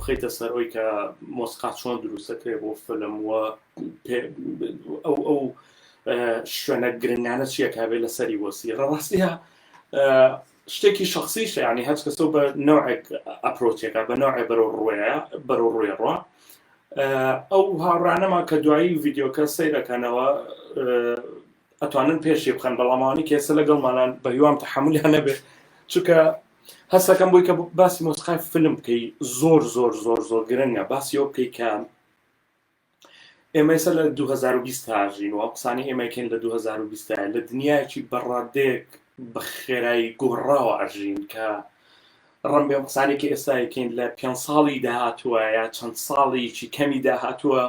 بخەیتە سەر ئەوی کە مۆسقا چۆن دروستەکرێ بۆ فلم وە ئەو ئەو شوێنە گرنگانە چیەکە بێت لە سەری وەسی ڕاستە شتێکی شخصیشە یعنی هەچ کەسەو بە نەوعێک ئەپرۆچێکە بە نەوعێ بەرەو ڕوێە بەرەو ڕوێ ڕۆ ئەو هاوڕانەما کە دوایی ڤیددیوکە سەیرەکەنەوە ئەتوانن پێشی بخەن بەڵامانی کێسە لەگەڵ مالان بە هیوام تحملیان نەبێت چونکە هەستەکەم بووی کە باسی مۆسقای فلم بکەی زۆر زۆر زۆر زۆر گرنگە باسی ئەو بکەی کە ئێمە ئێستا لە 2020 دا ئەژین و ئەو قسانەی ئێمە ئەکەین لە 2020 دایە، لە دنیایەکی بە ڕادەیەک بە خێرایی گۆڕاوە ئەژین کە ڕەم بێ ئەو قسانەی کە ئێستا ئەکەین لە پێنج ساڵی داهاتووە یا چەند ساڵێکی کەمی داهاتووە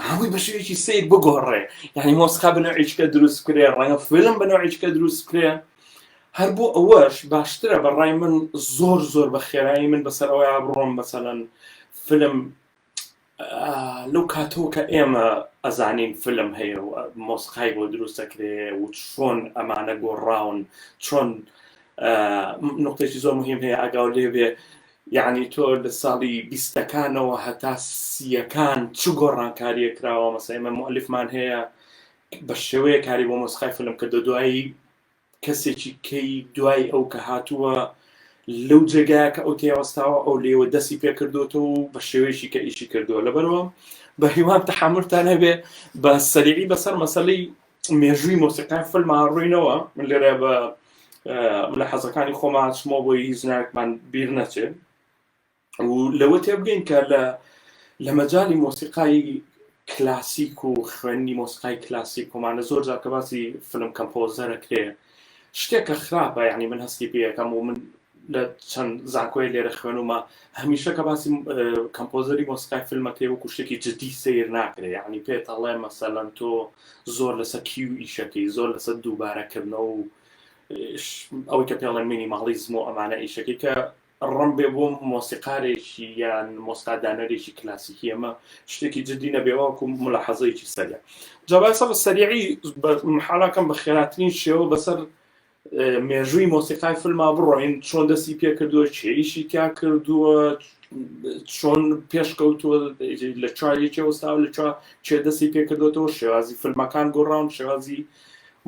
هەمووی بە شێوەیەکی سیر بگۆڕێ یعنی مۆسقا بە نوعیچکە دروست کرێ ڕەنگە فیلم بە نوعیچکە دروست کرێ هەر بۆ ئەوەش باشترە بە ڕای من زۆر زۆر بە خێرایی من بەسەر ئەوەیا بڕۆم بەسەلەن فلم لەو کاتەوە کە ئێمە ئەزانین فلم هەیە و مۆسقای بۆ دروست دەکرێ و چۆن ئەمانە گۆڕاون چۆن نقطێکی زۆر مهم هەیە ئەگاو لێ بێ یعنی تۆ لە ساڵی بیستەکانەوە هەتا سیەکان چ گۆڕانکاریە کراوە مەسەمە مؤلفمان هەیە بە شێوەیە کاری بۆ مۆسقای فلم کە دە دوایی کەسێکی کەی دوای ئەو کە هاتووە لەو جێگایە کە ئەو تێوەستاوە ئەو لێوە دەستی پێکردوەوە و بە شێوەیەکی کە ئیشی کردووە لەبەرەوە بە هیوام تەحملتان هەبێ بە سەریعی بەسەر مەسلەی مێژووی مۆسیقای فلما ڕووینەوە من لێرە بە لە حەزەکانی خۆماچمەوە بۆی هیچ ناکمان بیر نەچێت و لەوە تێبگەین کە لە لە مەجای مۆسیقای کلاسیک و خوێندنی مۆسیقای کلاسیک کۆمانە زۆر جار کە باسی فلم کەمپۆزەرەکرێ شتێکە خراپە یعنی من هەستی پێەکەم و من لە چەند زانکۆی لێرە خوێنومە هەمیشە کە باسی کەمپۆزەری مۆسیقای فیلمەکەی وەکو شتێکی جددی سیر ناکرێ یعنی پێت هەڵێ مەسەلەن تۆ زۆر لەسەر کیو ئیشەکەی زۆر لەسەر دووبارەکردنەوە و ئەوەی کە پێڵێن مینیماڵیزم و ئەمانە ئیشەکەی کە ڕم بێ بۆ مۆسیقارێکی یان مۆسقا دانەرێکی کلاسیکی ئەمە شتێکی جدی نەبێ واکو ملاحەزەیەکی سەریع جاوای سەر سەریعی حاڵاکەم بە خێراترین شێوە بەسەر مێژووی مۆسیقای فلما بڕۆین چۆن دەستی پێ کردووە چێریشی تیا کردووە چۆن پێشکەوتووە لە چوارێکی ئەوستا لە چوە چێ دەستی پێکردوێتەوە شێوازی فلمەکان گۆڕاون شێوازی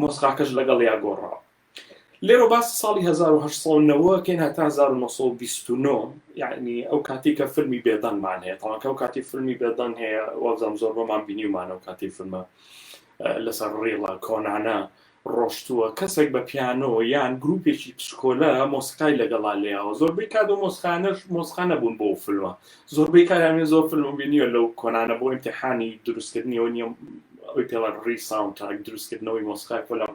مۆسقاکەش لەگەڵ یا گۆڕاوە لێرەوە باسی ساڵی 1990 کەین هەتا 1929 یعنی ئەو کاتی کە فیلمی بێدەنگمان هەیە تاکە ئەو کاتی فیلمی بێدەنگ هەیە وەزان زۆر بۆمان بینیمان ئەو کاتی فیلمە لەسەر ڕێڵە کۆنانە ڕۆشتووە کەسێک بە پیانۆ یان گروپێکی پسکۆلە مۆسیقای لەگەڵا لێەوە زۆربەی کات و مۆسخانەش مۆسخانە بوون بۆ فلمە زۆربەی کاراێ زۆر فلم بینیە لەو کۆنانە بۆ امتحانی دروستکردنیەوە نیە ئەوی پێڵەن ڕی ساونتاک دروستکردنەوەی مۆسخای فلم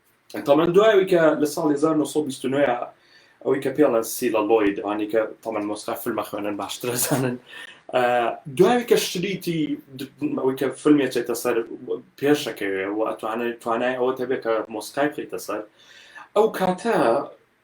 تەمەن دوای ئەوەی کە لە ساڵی 1929 ئەوەی کە پێڵە سیلە لۆی دوانی کە تەمەن مۆسقا فیلمە خوێنن باشترە زانن دوای کە شتریتی ئەوەی کە فیلمێ چێتە سەر پێشەکەوێ و ئەتوانێت توانای ئەوە تەبێت کە مۆسقای بخیتە سەر ئەو کاتە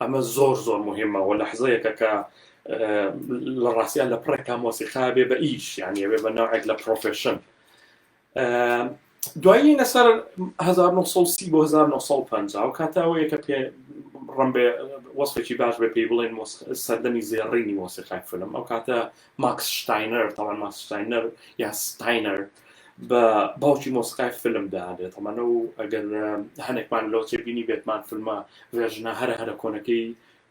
ئەمە زۆر زۆر مهمە و لەحزەیەکە کە لە ڕاستیان لە پڕێکا مۆسیقا بێ بە ئیش یانە بێ بە ناوێک لە پرۆفشن دوایی لەسەر 1930 بۆ 1950 و کاتاوەیە کە پێ ڕم بێ وەسفێکی باش بێ پێی بڵێن سەردەمی زێڕینی مۆسیقای فلم ئەو کاتە ماکس شتاینەر، تەڵان ماکس شتاینەر یا ستاینەر بە باوکی مۆسیقای فیلم دادێت تەمانە و ئەگەر هەنێکمان لەو تێبینی بێتمان فیلمە ڤێژنە هەرە هەرە کۆنەکەی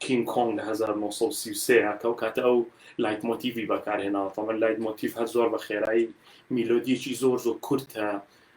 کینگ کۆنگ لە 1933 کەو کاتە ئەو لایت مۆتیڤی بەکارهێناوە تەمەن لایت مۆتیف هەر زۆر بە خێرایی میلۆدیەکی زۆر زۆر کورتە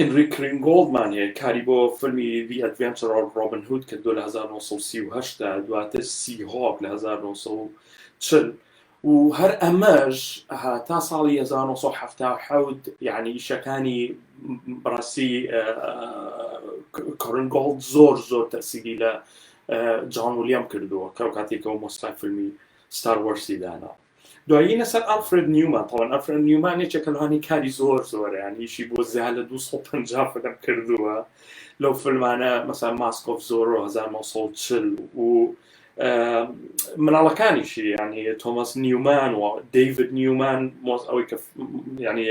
ئینریک رینگۆڵدمان هەیە کاری بۆ فیلمی The Adventure of Robin Hood کردووە لە هەزار و نۆ سەد و سی و هەشت دا، دواتر Seahawk لە هەزار و نۆ سەد و چل و هەر ئەمەش تا ساڵی هەزار و نۆ سەد و حەفتا و حەوت یانی ئیشەکانی بەڕاستی کۆرنگۆڵد زۆر زۆر تەسیری لە جان ولیام کردووە کە کاتێکەوە مۆسیقای فیلمی ستار وەرسی داناوە. دوایی لەسەر ئەلفرێد نیومان تەوان ئەلفرێد نیومان یەکێکە لەوانی کاری زۆر زۆرە یان یشی بۆ زیاد لە 250 فلم کردووە لەو فلمانە مەسان ماسکۆف زۆر 1940 و مناڵەکانیشی ینی تۆمەس نیومان و دەیڤد نیومان مۆز ئەوەی کە ینی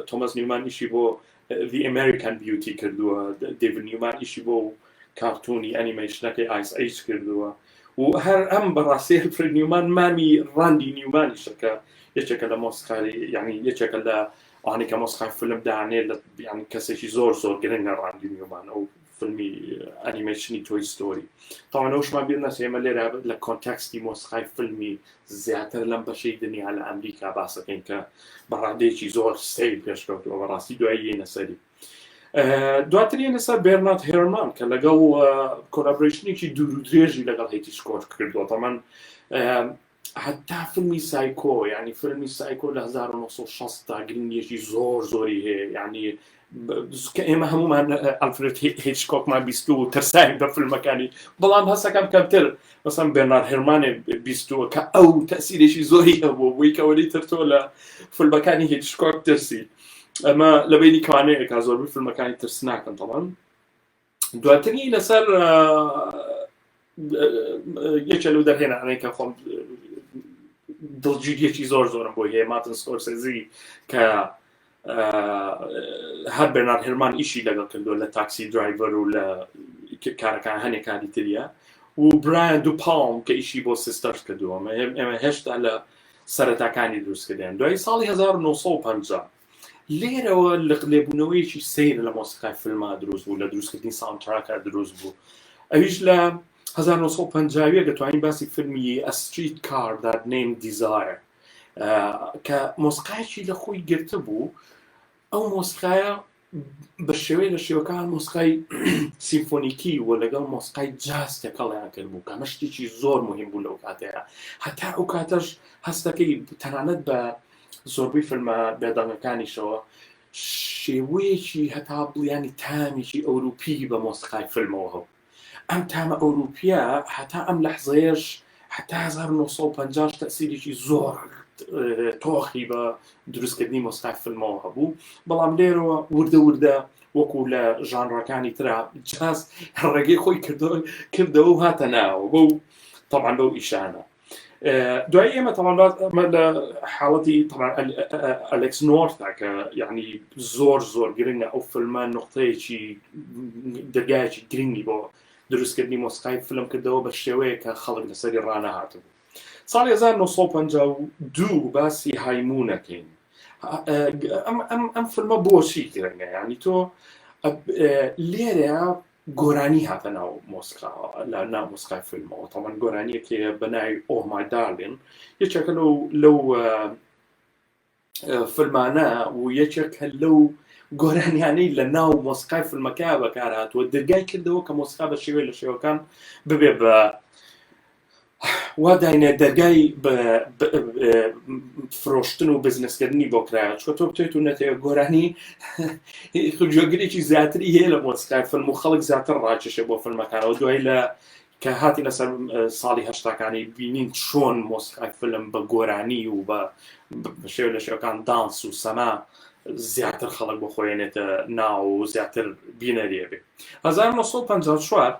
تۆمەس نیومانیشی بۆ The American Beauty کردووە، دەیڤد نیومان ئیشی بۆ کارتوونی ئەنیمەیشنەکەی ئایس ئەیج کردووە و هەر ئەم بەڕاستی ئەلفرێد نیومان مامی ڕاندی نیومانیشە کە یەکێکە لە مۆسیقاری یعنی یەکێکە لە ئەوانەی کە مۆسیقای فیلم دانێ لە یعنی کەسێکی زۆر زۆر گرنگە ڕاندی نیومان ئەو فیلمی ئەنیمەیشنی تۆی ستۆری تاوان ئەوشمان بیر نەچێ ئێمە لێرە لە کۆنتەکستی مۆسیقای فیلمی زیاتر لەم بەشەی دنیا لە ئەمریکا باسەکەین کە بە ڕادەیەکی زۆر سەیر پێشکەوتووە بەڕاستی دوایی یەنە سەری دواتر یەنە سەر بێرنات هێرمان کە لەگەڵ کۆلابرشنێکی دوور و درێژی لەگەڵ هێتی سکۆت کردووە تەمان هەتا فلمی سایکۆ یعنی فلمی سایکۆ لە 1960 تا گرنگێکی زۆر زۆری هەیە یعنی کە ئێمە هەمومان ئەلفرێت هیچ کۆکمان بیست و ترسای بە فیلمەکانی بەڵام هەسەکەم کەمتر بەسم بێنار هەرمانێ بیستوە کە ئەو تەسیرێکی زۆری هەبوو بووی کەەوەی ترتۆ لە فیلمەکانی هیچ کۆک ترسی ئەمە لە بینی کوانەیەکە زۆربەی فیلمەکانی ترسناکەن تەڵەن دواتنی لەسەر یەکە لەو دەرهێنانەی کە خۆم دڵگیریەکی زۆر زۆرم بۆ هەیە ماتن سکۆرسێزی کە هەر بەنار هەرمان ئیشی لەگەڵ کردو لە تاکسی درایڤەر و لە کارەکان هەنێک کاری تریە و برایان دوو پاڵم کە ئیشی بۆ سیستەرس کردووە ئێمە هێشتا لە سەرەتاکانی دروستکردیان دوای ساڵی 1950 لێرەوە لق لێبوونەوەیەکی سیر لە مۆسیقای فلما دروست بوو لە دروستکردنی ساونتراکە دروست بوو ئەویش لە 1950 دەتوانین باسی فیلمی ئەستریت کار داد نیم دیزایە کە مۆسقایکی لە خۆی گرتە بوو ئەو مۆسقایە بە شێوەی لە شێوەکان مۆسقای سیمفۆنیکی و لەگەڵ مۆسقای جاز تێکەڵیان کرد بوو کە مەشتێکی زۆر مهم بوو لەو کاتەیە هەتا ئەو کاتەش هەستەکەی تەنانەت بە زۆربەی فلمە بێدەنگەکانیشەوە شێوەیەکی هەتا بڵیانی تامێکی ئەوروپی بە مۆسقای فلمەوە هەو ئەم تامە ئەوروپیە هەتا ئەم لەحزەیەش هەتا 1950 تەسیرێکی زۆر تۆخی بە دروستکردنی مۆسقای فلمەوە هەبوو بەڵام لێرەوە وردە وردە وەکو لە ژانڕەکانی تررا جاز ڕێگەی خۆی کردەوە کردەوە و هاتە ناوە بەو طبعا بەو ئیشانە دوای ئێمە تەواندات ئەمە لە حاڵەتی ئەلکس نۆرتا کە یعنی زۆر زۆر گرنگە ئەو فلمە نقطەیەکی دەرگایەکی گرنگی بۆ دروستکردنی مۆسقای فلم کردەوە بە شێوەیە کە خەڵک لەسەری ڕانە هاتبوو ساڵی 1952 باسی هایمونەکەین ئەم فلمە بۆچی گرنگە ینی تۆ لێرە گۆرانی هاتە ناو مۆسکا لە ناو مۆسکای فیلمەوە تەمان گۆرانیەکێ بە ناوی ئۆمای دارلین یەکێکە لەو لەو فیلمانە و یەکێک هەر لەو گۆرانیانەی لە ناو مۆسقای فیلمەکە بەکارهاتوە دەرگای کردەوە کە مۆسقا بە شێوەی لە شێوەکان ببێ بە وا داینێ دەرگای فرۆشتن و بزنسکردنی بۆ کرایە چۆ تۆ بتێت و نەتێ گۆرانی گوێگرێکی زیاتری هەیە لە مۆسیقای فلم و خەڵک زیاتر ڕاکێشێ بۆ فلمەکانەوە دوای لە کە هاتی لەسەر ساڵی هەشتاکانی بینین چۆن مۆسیقای فلم بە گۆرانی و بە شێو لە شێوەکان دانس و سەما زیاتر خەڵک بۆ خۆێنێتە ناو و زیاتر بینەریێ بێ 1954